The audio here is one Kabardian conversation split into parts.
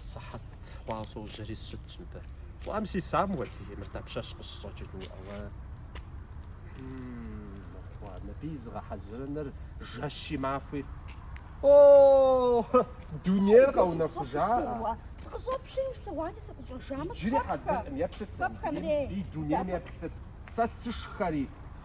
Сыхьэт хъуащ сожьэри сыщытщ мыбы. Уэм си Самуэл, и мыр дапщэщ къыщыщӏэкӏыну уӏэгъэ? Мыхъуа, мыбы и зыгъэхьэзырыныр жэщи махуи. О, дунейр къэунэхужа. Сыкъыщӏопщын щытэ, уади сыкъыщӏэжамэ, Иджыри хьэзыркъым, еплъыт сэ. И дунейм еплъыт. Сэ сышхэри,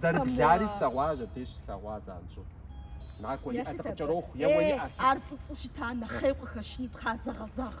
Зэрыблари слъэгъуащ, абдеж слъэгъуа занщӏэу. Накӏуэ, иӏэ дыкъыкӏэроху, еуэ иӏэ. Ар фӏыцӏэу щыта нэхъей къыхэщыну тхъа зэгъэзэгъ.